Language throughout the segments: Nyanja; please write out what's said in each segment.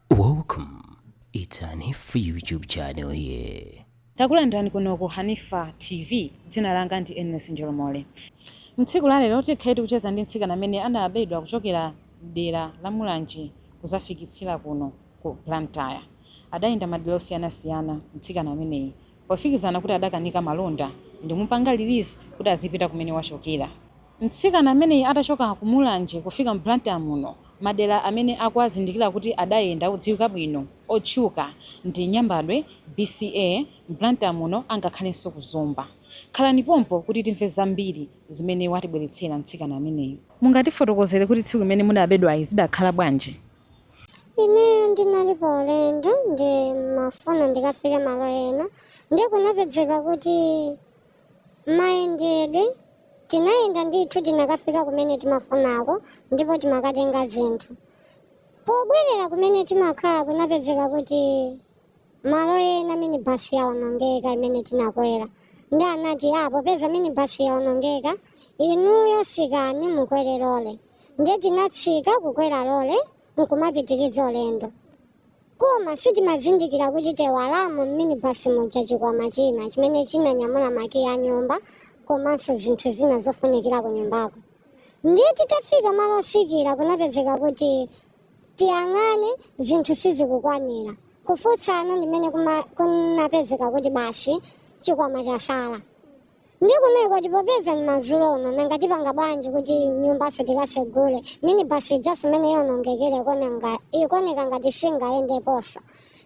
Welcome. It's Hanifa YouTube channel here. Takulandirani kuno ku Hanifa TV. Dzina langa ndi Ernest Njolomole. Mtsiku la lero tikhaye tikucheza ndi mtsikana amene anabedwa kuchokera dera la Mulanje kuzafikitsira kuno ku Blantyre. Adayenda madera osiyanasiyana mtsikana ameneyi pofikizana kuti adakanika malonda ndimupanga release kuti azipita kumene wachokera. Mtsikana ameneyi atachoka ku Mulanje kufika mu Blantyre muno, madera amene akuazindikira kuti adayenda odziwika bwino, otchuka, ndi Nyambadwe, BCA, Blantyre muno angakhalenso ku Zomba. Khalani pompo kuti timve zambiri zimene watibweretsera mtsikana ameneyi. Mungatifotokozere kuti tsiku limene mudabedwali zidakhala bwanji? Ineyo ndinali pa ulendo ndimafuna ndikafike malo ena ndiye kunapedzeka kuti mayendedwe, tinayenda ndithu tinakafika kumene timafunako ndipo timakatenga zinthu. Pobwerera kumene timakhala kunapezeka kuti malo ena minibus yaonongeka imene tinakwera ndiye anati ah popeza minibus yaonongeka inuyo tsikani mukwere lole ndiye tinatsika kukwera lole nkumapitiriza ulendo. koma sitimazindikira kuti taiwalamo m'minibasi muja chikwama china chimene chinanyamula makiyi a nyumba komanso zinthu zina zofunikira ku nyumbako ndiye titafika malo otsikira kunapezeka kuti tiyang'ane zinthu sizikukwanira kufunsana ndimene kuma- kunapezeka kuti basi chikwama chatsala ndiye kunali koti popeza ndi madzulo uno nanga tipanga bwanji kuti nyumbaso tikasegule minibasi ijaso mmene yaonongekera ikonanga ikuoneka ngati singayendeponso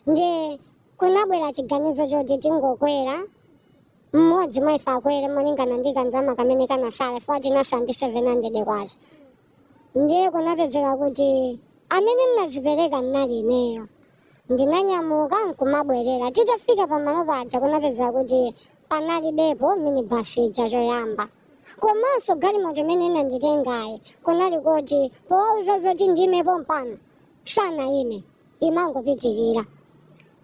ndiye kunabwera chiganizo choti tingokwera mmodzi mwa ife akwere molingana ndi kandalama kamene kanatsala chifukwa tinatsala ndi 700 kwacha Ndiye kunapezeka kuti amene ndinazipereka ndinali ineyo. Ndinanyamuka nkumabwerera. Titafika pamalo paja kunapezeka kuti panalibepo minibasi ija choyamba. Komanso galimoto imene inanditengayi kunali koti powauza zoti ndiimepo pano sanayime. imangopitirira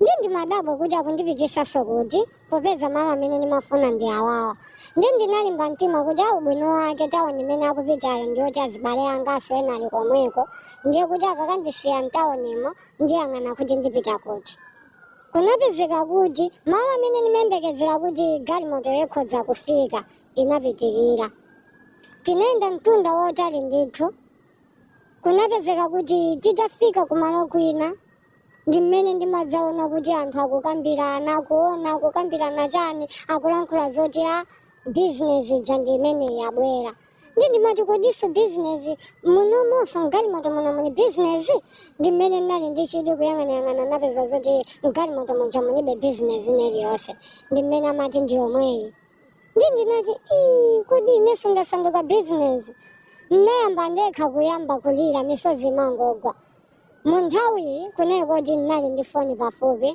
ndiye ndimadabwa kuti akundipititsanso kuti popeza malo amene ndimafuna ndi awawa ndiye ndinalimba mtima kuti ah ubwino wake tawoni imene akupitayo ndiyoti azibale anganso ena ali komweko ndiye kuti akakandisiya mtawonimo ndiyang'ana kuti ndipita kuti kunapezeka kuti malo amene ndimayembekezera kuti galimoto ikhoza kufika inapitirira tinayenda mtunda wotali ndithu Kunapezeka kuti titafika kumalo kwina ndi mmene ndimadzaona kuti anthu akukambirana, akuona, akukambirana chani, akulankhula zoti a bizinesi ija ndi imeneyi yabwera. Ndi ndimati kodinso bizinesi munomonso mgalimoto muno muli bizinesi? Ndi mmene ndinali ndi chidwi kuyang'anayang'ana napeza zoti mgalimoto muja mulibe bizinesi ina iliyonse. Ndi mmene amati ndi yomweyi. ndi ndinati ii kodi inenso ndasanduka bizinesi ndinayamba ndekha kuyamba kulira misozi imangogwa mu nthawiyi kunali kuti ndinali ndi foni pafupi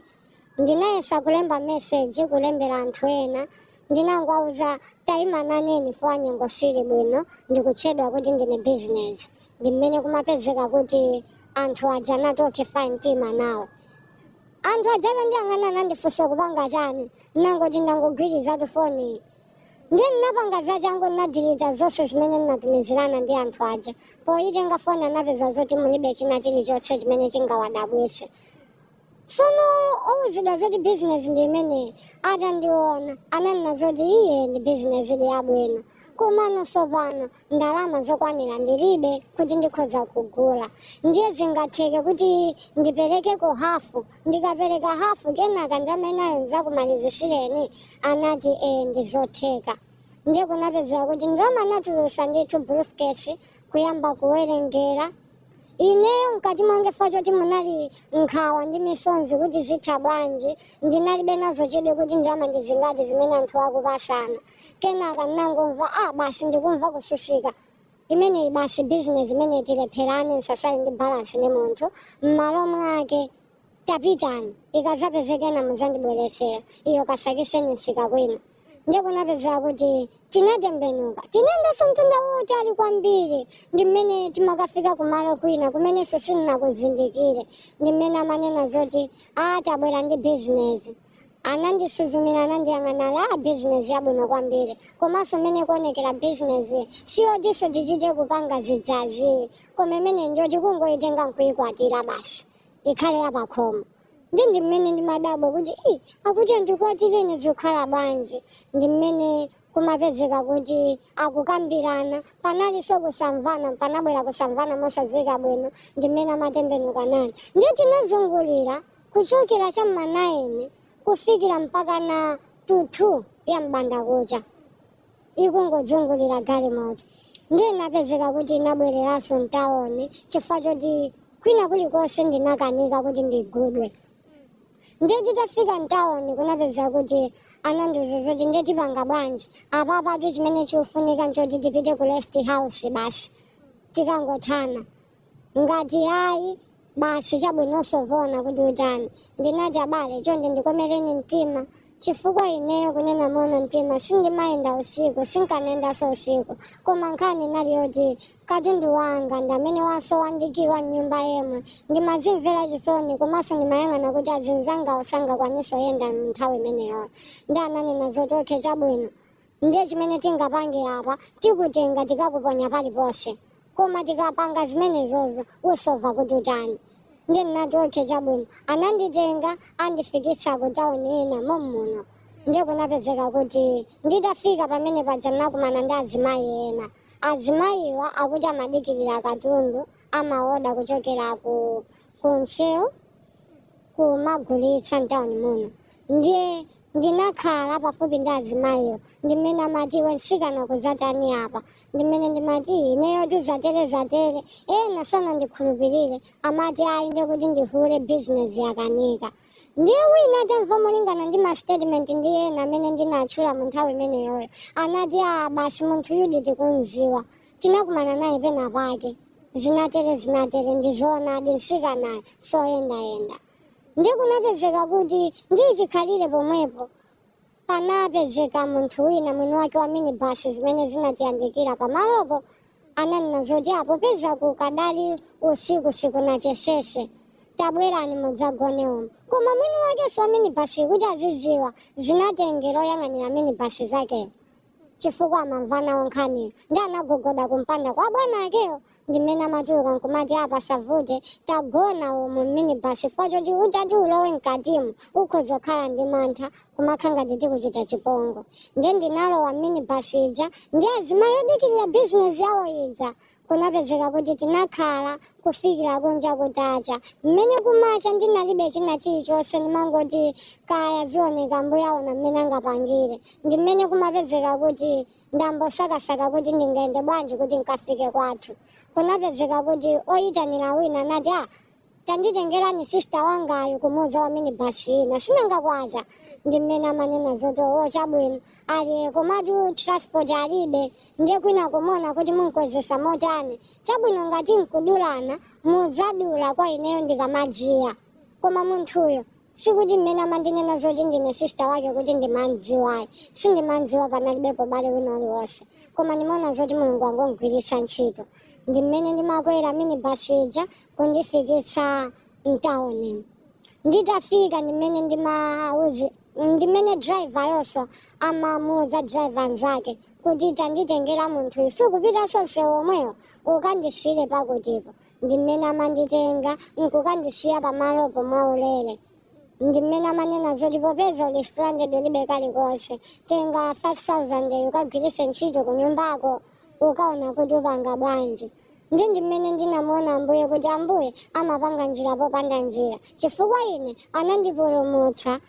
ndinayesa kulemba meseji kulembera anthu ena ndinangowauza tayima naneni fo nyengo sili bwino ndikutchedwa kuti ndine bizinesi ndi mmene kumapezeka kuti anthu aja anatokhala fa mtima nawo anthu aja atandiyang'ana anandifunsa kupanga chani nangoti ndangogwirizatu foni ndiye ndinapanga zachangu ndinadilita zonse zimene ndinatumizirana ndi anthu aja poyitenga foni anapeza zoti mulibe china chilichonse chimene chingawadabwise sono owuzidwa zoti bizinesi ndi imeneyi atandiona ananena zoti iyi ndi bizinesi ili yabwino komano sopano ndalama zokwanira ndilibe kuti ndikhoza kugula ndiye zingatheke kuti ndiperekeko hafu ndikapereka hafu kenaka ndalama inayo nzakumalizisireni anati ee ndizotheka ndiye kunapezeka kuti ndalama anatulusa ndithu briefcase kuyamba kuwerengera Ineyo mkati mwange fa choti munali nkhawa ndi misonzi kuti zitha bwanji ndinalibe nazo chidwi kuti ndalama ndi zingati zimene anthu akupasana kenaka ndinangomva a basi ndikumva kutsutsika imeneyi basi bizinesi imene tilepherane nsasali ndi balansi ndi munthu m'malo mwake tapitani ikazapezekena muzandibweresera iyo kasakiseni nsika kwina ndiye kunapezeka kuti tinatembenuka tinayendanso mtunda wautali kwambiri ndi mmene timakafika kumalo kwina kumenenso sindinakuzindikire ndi mmene amanena zoti a tabwera ndi bizinesi anandisuzumira anandiyang'ana a bizinesi yabwino kwambiri komanso mmene kuonekera bizinesi siyotinso tichite kupanga zijazi koma imene njoti kungoyitenga nkuyikwatira basi ikhale yapakhomo ndi ndi mmene ndimadabwa kuti i akuti andikwatire zikhala bwanji ndi mmene kumapezeka kuti akukambirana panalinso kusamvana panabwera kusamvana mosadziwika bwino ndi mmene amatembenuka nane ndiye tinazungulira kuchokera cha m'ma naini kufikira mpaka na thu ya m'bandakucha ikungodzungulira galimoto ndiye napezeka kuti inabwereranso mtawoni chifukwa choti kwina kulikonse ndinakanika kuti ndigudwe ndiye titafika mtawoni kunapezeka kuti anandiuza zoti ndiye tipanga bwanji apapatu chimene chikufunika nchoti tipite ku rest house basi tikangothana Ngati ayi, basi chabwino usova kuti utani. Ndinati abale chonde ndikomereni mtima chifukwa ineyo kunena moona mtima sindimayenda usiku, sinkanayendanso usiku koma nkhani inali yoti katundu wanga ndi amene wasowa ndi key wa mnyumba yemwe ndimazimvera chisoni komanso ndimayang'ana kuti azinzangawo sangakwanitse kuyenda nthawi imeneyoyo nde ananena zoti okay chabwino ndiye chimene tingapange apa tikutenga tikakuponya paliponse koma tikapanga zimenezozo usova kuti utani ndiye ndinati okay chabwino ananditenga andifikitsa ku tauni ina mommuno ndiye kunapezeka kuti nditafika pamene paja ndinakumana ndi azimayi ena azimayiwa akuti amadikirira katundu amaoda kuchokera ku ntcheu kumagulitsa mtauni muno ndiye ndinakhala pafupi ndi azimayiwo ndimene amati iwe mtsikana ukuzatani apa ndimene ndimati ineyo zatere zatere ena sanandikhulupirire amati ayi ndiye kuti ndi hule bizinesi yakanika ndiye wina atamva molingana ndi mastatement ndi ena amene ndinatchula mu nthawi imeneyoyo anati a basi munthuyu di tikumziwa tinakumana naye pena pake zinatere zinatere ndizoonadi mtsikanayo soyendayenda ndiye kunapezeka kuti ndi chikhalire pomwepo panapezeka munthu wina mwini wake wa minibasi zimene zinatiyandikira pamalopo ananena zoti a popeza kukadali usiku sikunachesese tabwerani mudzagone umu koma mwini wakenso wa minibasi kuti aziziwa zinatengera oyang'anira minibasi zakeyo chifukwa amamva nawo nkhaniyo ndiye anagogoda kumpanda kwa bwana akeyo ndi mmene amatuluka nkumati apa zavuta tagona umu mminibasi chifukwa choti utati ulowe mkatimu ukhoza kukhala ndi mantha kumakha ngati tikuchite chipongwe nde ndinalowa mminibasi ija ndi azimayi odikirira bizinesi yawo ija kunapezeka kuti tinakhala kufikira kunja kutacha mmene kumacha ndinalibe china chilichonse ndimangoti kaya zioneka mbuye aona mmene angapangire ndi mmene kumapezeka kuti ndambosakasaka kuti ndingayende bwanji kuti nkafike kwathu kunapezeka kuti oyitanira wina anati a tanditengerani sista wangayo kumuuza wa minibasi ina sinanga kwacha ndi mmene amanena zoti owo chabwino ali komatu transport alibe ndiye kwinako muona kuti munkwezesa motani chabwino ngati nkudulana muzadula kwa ineyo ndikamajiya koma munthuyo sikuti mmene amandinena zoti ndine sista wake kuti ndimamdziwayi sindimamdziwa panalibepo bale wina uliwonse koma ndimaona zoti mulungu wangomugwiritsa ntchito ndi mmene ndimakwera minibasi ija kundifikitsa mtauni nditafika ndimene ndimauzi ndimene driver yonso amamuuza driver nzake kuti tanditengera munthuyu sukupita sonse womwewo ukandisiyire pakutipo ndi mmene amanditenga nkukandisiya pamalopo mwaulere ndi mmene amanena zoti popeza uli stranded ulibe kalikonse tenga 5000 ukagwiritse ntchito ku nyumbako ukaona kuti upanga bwanji ndi ndi mmene ndinamuona ambuye kuti ambuye amapanga njira popanda njira chifukwa ine anandipulumutsa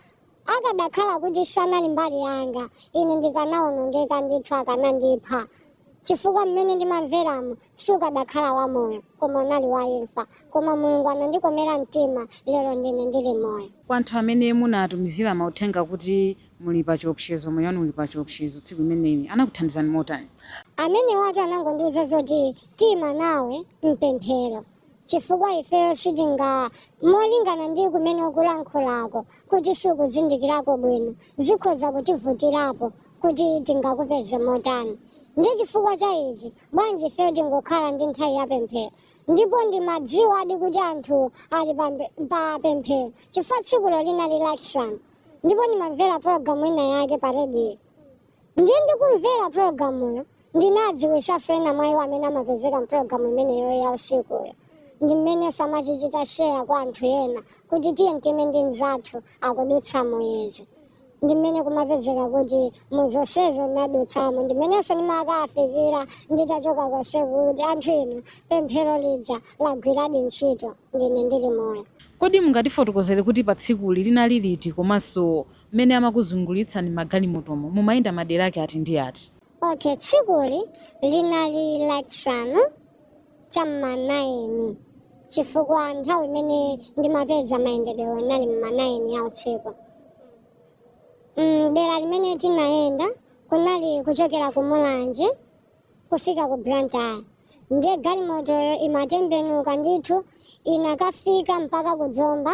Akadakhala kuti sanali mbali yanga, ine ndikanaonongeka ndithu, akanandipha, chifukwa m'mene ndimamveramo sukadakhala wa moyo, koma unali wa imfa. Koma Mulungu anandikomera mtima, lero ndine ndili moyo. Kwa anthu amene munatumizira mauthenga kuti muli pa chiopsezo, moyo wanu uli pa chiopsezo tsiku limeneli, anakuthandizani motani? Amenewatu anangondiuza zoti tiima nawe m'pemphero. chifukwa ifeyo sitinga molingana ndi kumene ukulankhulako kuti sukuzindikirako bwino zikhoza kutivutirapo kuti tingakupeze motani ndi chifukwa cha ichi bwanji ifeyo tingokhala ndi nthawi ya pemphero ndipo ndimadziwadi kuti anthu ali pa pemphero chifukwa tsikulo linali lachisanu ndipo ndimamvera pologalamu ina yake pa rediyo ndiye ndikumvera pulogalamuyo ndinadziwisanso ena mwa iwo amene amapezeka mpulogalamu imeneyo ya usikuyo ndi mmenenso amachichita sheya kwa anthu ena kuti tiyeni tiime ndi mzathu akudutsa muizi ndi mmene kumapezeka kuti mu zonsezo nadutsamo ndi mmenenso ndimakafikira nditachoka konse kuti anthu inu pemphero lija lagwiradi ntchito ndine ndili moyo Kodi mungatifotokozere kuti pa tsikuli linali liti komanso mmene amakuzungulitsani magalimotomo mumayenda madera ake ati ndi ati? Ok tsikuli linali lachisanu cha mma 9 chifukwa nthawi imene ndimapeza mayendedwewo inali mma 9 ya usiku mm, dera limene tinayenda kunali kuchokera ku mulanje kufika ku blantyre ndiye galimotoyo imatembenuka ndithu inakafika mpaka ku zomba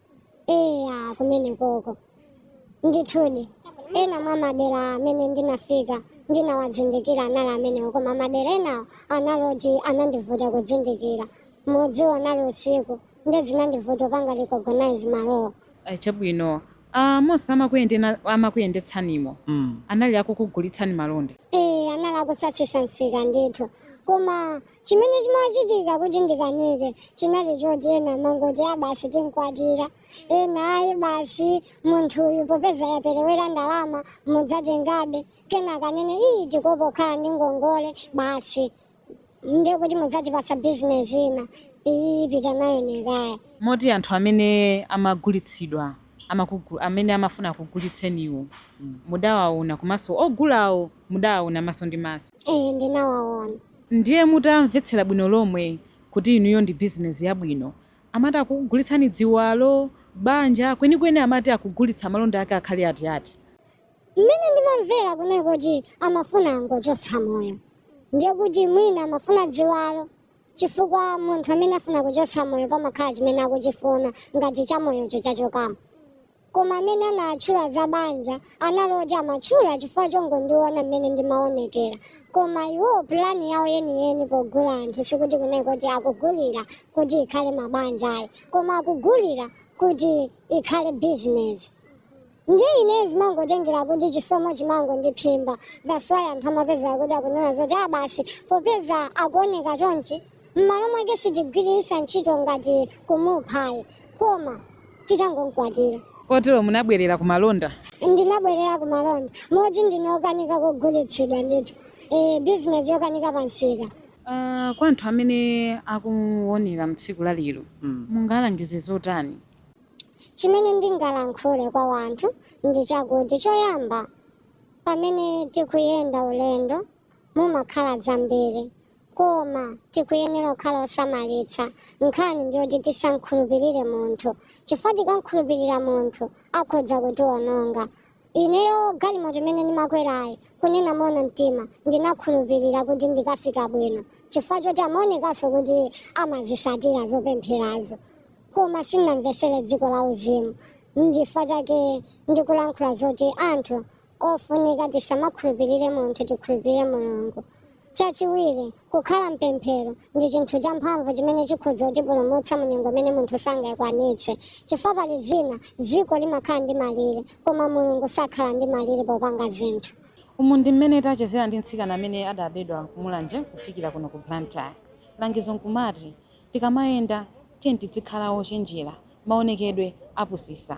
eya kumene koko ndithudi ena mwa madera amene ndinafika ndinawazindikira anali amenewo koma madera enawo anali oti anandivuta kuzindikira mudziwa anali usiku nde zinandivuta kupanga recognize malowo Ayi, chabwino Ah, monse amakuyendena- amakuyendetsanimo Mm. anali akukugulitsani malonda e anali akutsatsa msika ndithu koma chimene chimachitika kuti ndikanike chinali choti ena mangoti a basi tinkwatira ena ayi basi munthuyu popeza yaperewera ndalama mudzatengabe kenaka nane ayi tikhoza kukhala ndi ngongole basi ndiye kuti mudzatipasa bizinesi ina iyi pita nayo nekaya moti anthu amene amagulitsidwa amakugu- amene amafuna kugulitseniwo mudawaona komanso ogulawo mudawaona maso ndi maso ee ndinawaona Ndiye mutamvetsera bwino lomwe kuti inuyo ndi bizinesi yabwino, amati akukugulitsani dziwalo, banja, kwenikweni amati akugulitsa malonda ake akhale ati ati? Mmene ndimamvera kunali kuti amafuna angochotsa moyo. Ndiye kuti mwina amafuna dziwalo chifukwa munthu amene afuna kuchotsa moyo pamakhala chimene akuchifuna ngati chamoyocho chachokamo. koma amene anatchula za banja anali oti amatchula chifukwa chongondiona mmene ndimaonekera koma iwo pulani yawo yeniyeni pogula anthu sikuti kunali kuti akugulira kuti ikhale mabanja ayi koma akugulira kuti ikhale bizinesi ndiye ine zimangotengera kuti chisomo chimangondiphimba that's why anthu amapezeka kuti akunena zoti a basi popeza akuoneka chonchi m'malo mwake sitigwiritsa ntchito ngati kumuphayi koma titangomkwatira kotero munabwerera ku malonda ndinabwerera ku malonda moti ndinokanika kugulitsidwa ndithu e, bizinesi yokanika pa msika Ah, kwa anthu amene akuonera mtsiku la lero Mm. mungalangize zotani chimene ndingalankhule kwa wanthu ndi chakuti choyamba pamene tikuyenda ulendo mumakhala zambiri koma tikuyenera kukhala osamalitsa nkhani ndiyoti tisamkhulupirire munthu chifukwa tikamkhulupirira munthu akhodza kutiwononga ineyo galimoto imene ndimakwerayi kunena mona mtima ndinakhulupirira kuti ndikafika bwino chifukwa choti amaonekanso kuti amazisatira zopempherazo koma sindinamvesere dziko la uzimu ndifukwa chake ndikulankhula zoti anthu ofunika tisamakhulupirire munthu tikhulupirire mulungu chachiwiri kukhala mpemphero ndi chinthu champhamvu chimene chikhoza kutipulumutsa mu nyengo imene munthu sangayikwanitse chifukwa pali zina dziko limakhala ndi malire koma mulungu sakhala ndi malire popanga zinthu umu ndi mmene tachezera ndi mtsikana amene adabedwa kumulanje kufikira kuno ku blantyre langizo nkumati tikamayenda tiyeni tidzikhala ochenjera maonekedwe apusisa